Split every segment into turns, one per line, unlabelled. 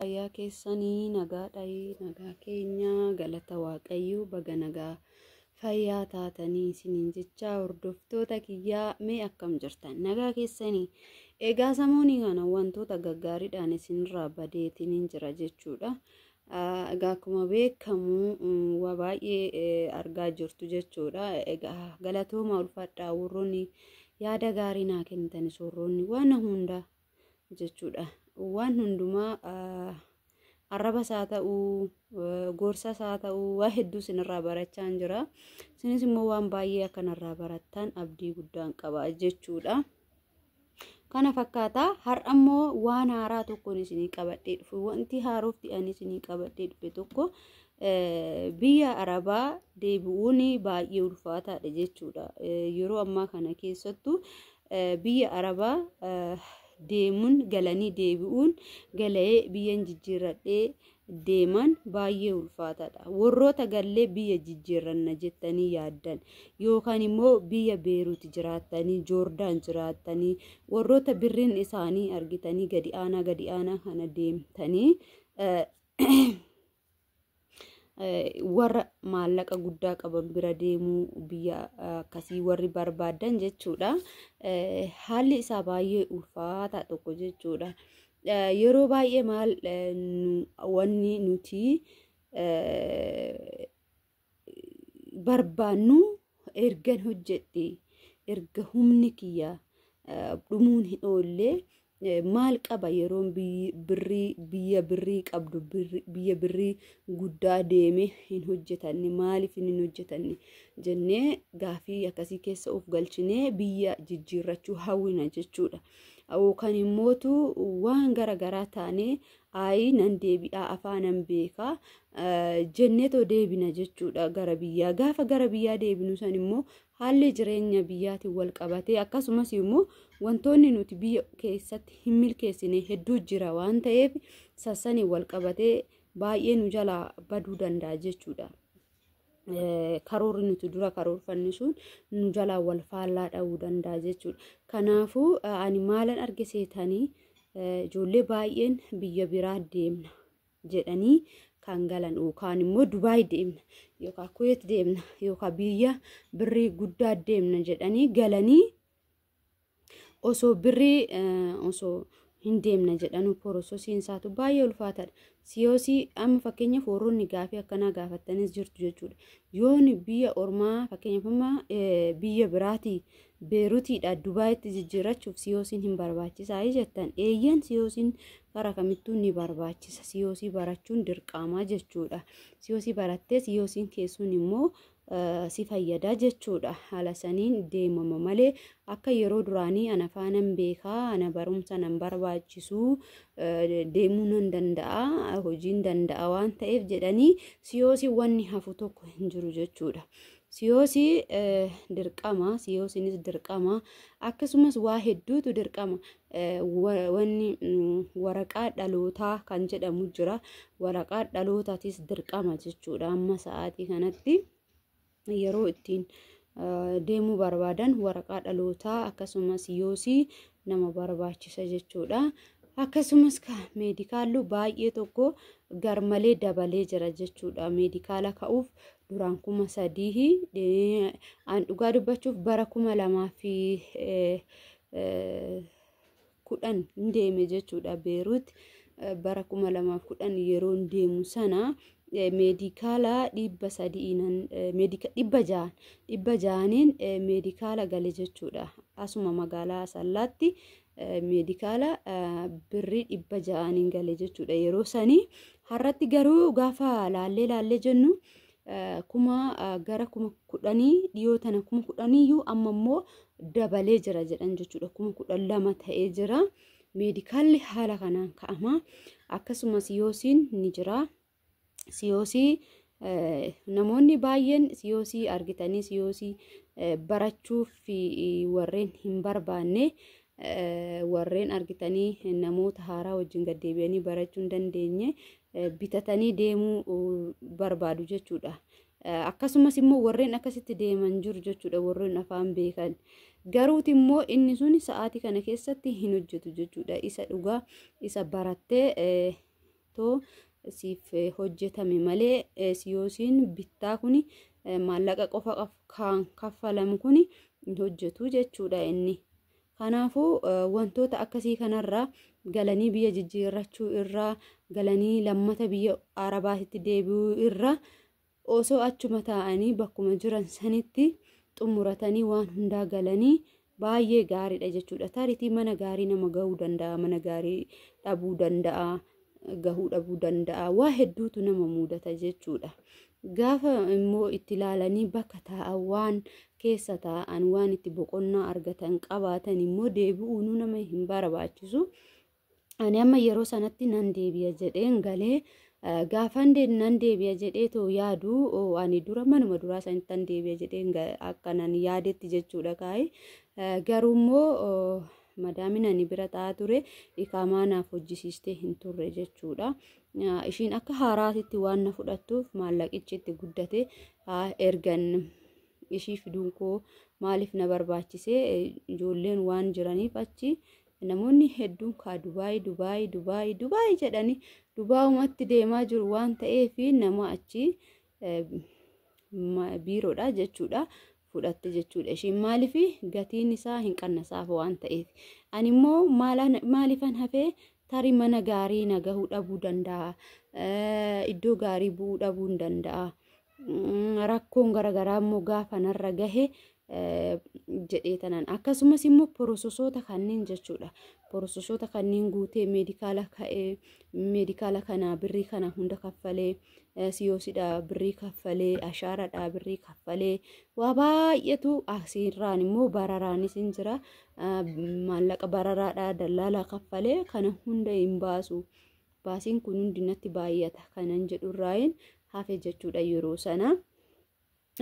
Fayyaa keessanii nagaadhayi nagaa keenya galata waaqayyoo baga nagaa fayyaa taatanii isiniin jechaa hordoftoota kiyyaa mee akkam jirtan nagaa keessanii egaa samoonii kana wantoota gaggaariidhaan isinirraa badeetiniin jira jechuudha egaa akkuma beekamu waa baay'ee argaa jirtu jechuudha egaa galatooma ulfaadhaa warroonni yaada gaarii naa kennitan soorroonni waan hundaa jechuudha. Waan hundumaa arrabas haa ta'u, gorsas haa ta'u, waa hedduu isinirraa barachaa jira. Isinis immoo waan baay'ee akkanarraa barattan abdii guddaan qaba jechuudha. Kana fakkaata har'a immoo waan haaraa tokkoon isinii qabadhee dhufe wanti haarofti ani isinii qabadhee dhufe tokko biyya arabaa deebi'uun baay'ee ulfaataadha jechuudha. Yeroo ammaa kana keessattuu Biyya Arabaa deemuun galanii deebi'uun gala'ee biyyan jijjiirradhee deeman baay'ee ulfaataadha. Warroota gallee biyya jijjiirranna jettanii yaaddan yookaan immoo biyya Beeruut jiraattanii, Joordaan jiraattanii, warroota birriin isaanii argitanii gadi aanaa gadi aanaa kana deemtanii warra maallaqa guddaa qaban bira deemuu biyya akkasii warri barbaadan jechuudha. Haalli isaa baay'ee ulfaataa tokko jechuudha. Yeroo baay'ee maal wanni nuti barbaannu ergan hojjedhe erga humni kiyya dhumuun hin oolle maal qaba yeroon birrii biyya birrii qabdu biyya birrii guddaa deeme hin hojjetanne maaliif hin hojjetanne jennee gaafii akkasii keessa of galchinee biyya jijjiirrachuu hawwina jechuudha. Yookaan immootu waan gara garaa taanee Ayii nan deebi'aa afaanan beekaa jenneetoo deebina jechuudha gara biyyaa. Gaafa gara biyyaa deebinu san immoo haalli jireenya biyyaatiin wal qabatee akkasumas immoo wantoonni nuti biyya keessatti hin milkeessine hedduu jira waan ta'eef sassaniin wal qabatee baay'ee nu jalaa baduu danda'a jechuudha. karoorri nuti dura karoorfanne sun nu jalaa wal faallaa dha'uu danda'a jechuudha. Kanaafuu ani maalan arge seetanii ijoollee baay'een biyya biraa deemna jedhanii kan galan yookaan immoo Dubaay deemna yookaan Kuweet deemna yookaan biyya birrii guddaa deemna jedhanii galanii osoo birrii osoo hin deemna jedhanu porososiin isaatu baay'ee ulfaataadha. Siyoosii amma fakkeenyaaf warroonni gaafii akkanaa gaafattanis jirtu jechuudha. Yoon biyya ormaa fakkeenyaaf amma biyya biraatii beerutiidha Dubaayitti jijjiirrachuuf siyoosiin hin barbaachisaa jettan eeyyan siyoosiin karaa kamittuu ni barbaachisa. Siyoosii barachuun dirqaamaa jechuudha. Siyoosii barattee siyoosiin keessuun immoo si fayyada jechuudha. Haala saniin deemama malee akka yeroo duraanii ana faanan beekaa ana barumsa nan barbaachisu deemuu nan danda'a hojiin danda'a waan ta'eef jedhanii siyoosii wanni hafu tokko hin jiru jechuudha. Siyoosii dirqama siyoosiinis dirqama akkasumas waa hedduutu dirqama wanni waraqaa dhalootaa kan jedhamu jira. Waraqaa dhalootaatis dirqama jechuudha. Amma sa'aatii kanatti yeroo ittiin deemuu barbaadan waraqaa dhalootaa akkasumas yoosii nama barbaachisa jechuudha. Akkasumas meedikaallu baay'ee tokko garmalee dabalee jira jechuudha. Meedikaala ka'uuf duraan kuma sadii an dhugaa dubbachuuf bara kuma lamaa fi kudhan deeme jechuudha beeruut bara kuma lamaaf kudhan yeroon deemu sana meedikaala dhibba sadi'iinan dhibba ja'an dhibba ja'aniin meedikaala gale jechuudha asuma magaalaa asallaatti meedikaala birrii dhibba ja'aniin gale jechuudha yeroo sanii har'atti garuu gaafa laallee laallee jennu kuma gara kuma kudhanii dhiyoo tana kuma kudhaniiyyuu amma immoo dabalee jira jedhan jechuudha kuma kudhan lama ta'ee jira meedikaalli haala kanaan ka'ama akkasuma siyoosiin ni jira siyoosii namoonni baay'een siyoosii argitanii siyoosii barachuuf warreen hin barbaanne warreen argitanii namoota haaraa wajjin gaddeebi'anii barachuu hin dandeenye bitatanii deemuu barbaadu jechuudha. Akkasumas immoo warreen akkasitti deeman jiru jechuudha warreen afaan beekan. Garuuti immoo inni sun sa'aatii kana keessatti hin hojjetu jechuudha. Isa dhugaa isa barattee too siif hojjetame malee siyoosiin bittaa kuni maallaqa qofa kan kaffalamu kuni hin hojjetu jechuudha inni. Kanaafuu wantoota akkasii kanarraa galanii biyya jijjiirrachuu irraa galanii lammata biyya arabaatitti deebi'uu irraa osoo achuma taa'anii bakkuma jiran sanitti xumuratanii waan hundaa galanii baay'ee gaariidha jechuudha. Taaritii mana gaarii nama ga'uu danda'a, mana gaarii dhabuu danda'a. gahuu dhabuu danda'a waa hedduutu nama muudata jechuudha gaafa immoo itti ilaalanii bakka taa'an waan keessa taa'an waan itti boqonnaa argatan qabaatan immoo deebi'uunuu nama hin barbaachisu ani amma yeroo sanatti nan deebi'a jedheen galee gaafan nan deebi'a jedhee too yaadu ani dura manuma duraa sanitti nan deebi'a jedheen akka nan yaadetti jechuudha kaa'e garuu immoo Madaamin ani bira ta'aa ture iqaamaa naaf hojjisiistee hin turre jechuudha. Ishiin akka haaraatitti waan na fudhattuuf maallaqichi itti guddate ergan ishii fiduun koo maaliif na barbaachise ijoolleen waan jiraniif achi namoonni hedduun kaa Dubaay Dubaay Dubaay Dubaay jedhanii Dubaayumatti deemaa jiru waan ta'eef nama achi biiroodha jechuudha fudhatte jechuudha ishiin maaliif gatiin isaa hin qannasaaf waan ta'eef ani immoo maaliifan hafee tarii mana gaarii na gahuu dhabuu danda'a iddoo gaarii bu'uu dhabuu danda'a rakkoon garaagaraa immoo gaafa narra gahe jedhee tanan akkasumas immoo porososoota kanneen jechuudha porososoota kanneen guutee meedikaala ka'ee meedikaala kana birrii kana hunda kaffalee siyoosidha birrii kaffalee ashaaradha birrii kaffalee waa baay'eetu asiirraan immoo bararaanis hin jira maallaqa bararaadha dallaalaa kaffalee kana hunda hin baasu baasiin kun hundi natti baay'ata kanan jedhurraayin hafe jechuudha yeroo sana.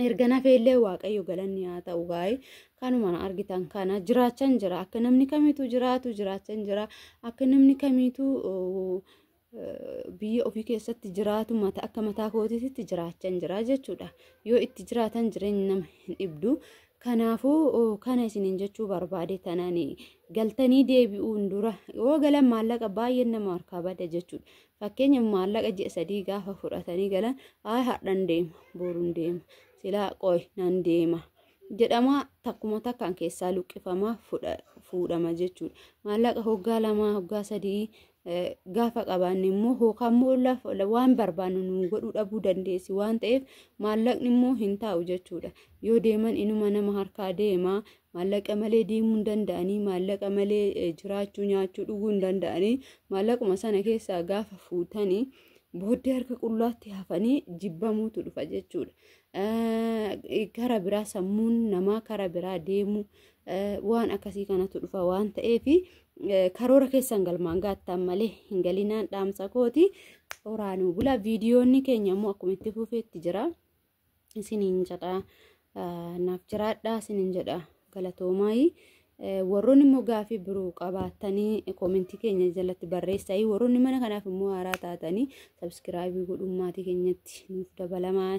erga nafeellee waaqayyo galanni haa ta'u gaa'ee kanuma na argitan kana jiraachan jira akka namni kamiitu jiraatu jiraachan jira akka namni kamiitu biyya ofii keessatti jiraatu mata akka mataa kootiitti jiraachan jira jechuudha yoo itti jiraatan jireenyi nama hin dhibdu kanaafuu kana isiniin jechuu barbaade tanani galtanii deebi'uun dura yoo galan maallaqa baay'een nama harkaa bada jechuudha Fakkeenya maallaqa ji'a sadii gaafa fudhatanii galan ayi hardhan deema boorun deema silaa qoy nan deema jedhama takkuma takkaan keessaa luqqifama fuudhama jechuudha. Maallaqa hoggaa lamaa hoggaa sadii gaafa qabaanne immoo hookaan immoo waan barbaannu nu godhuu dhabuu dandeessi waan ta'eef maallaqni immoo hin taa'u jechuudha. Yoo deeman inuma nama harkaa deema maallaqa malee deemuu hin danda'anii maallaqa malee jiraachuu nyaachuu dhuguu hin danda'anii maallaquma sana keessaa gaafa fuutanii booddee harka qullaatti hafanii jibbamuutu dhufa jechuudha. Kara biraa sammuun namaa kara biraa deemuu waan akkasii kanatu dhufa waan ta'eef karoora keessan galmaan gaattan malee hin galinaan dhaamsa kooti. Horaanuu bula viidiyoonni keenya immoo akkuma itti fufeetti jira. isiniin jedha naaf jiraadhaa isiniin jedha galatoomaayii warroonni immoo gaafii biroo qabaattanii koomentii keenya jalatti barreessaa warroonni mana kanaaf immoo haaraa taatanii sabiskiraabii godhuu maatii keenyatti nuuf dabalamaa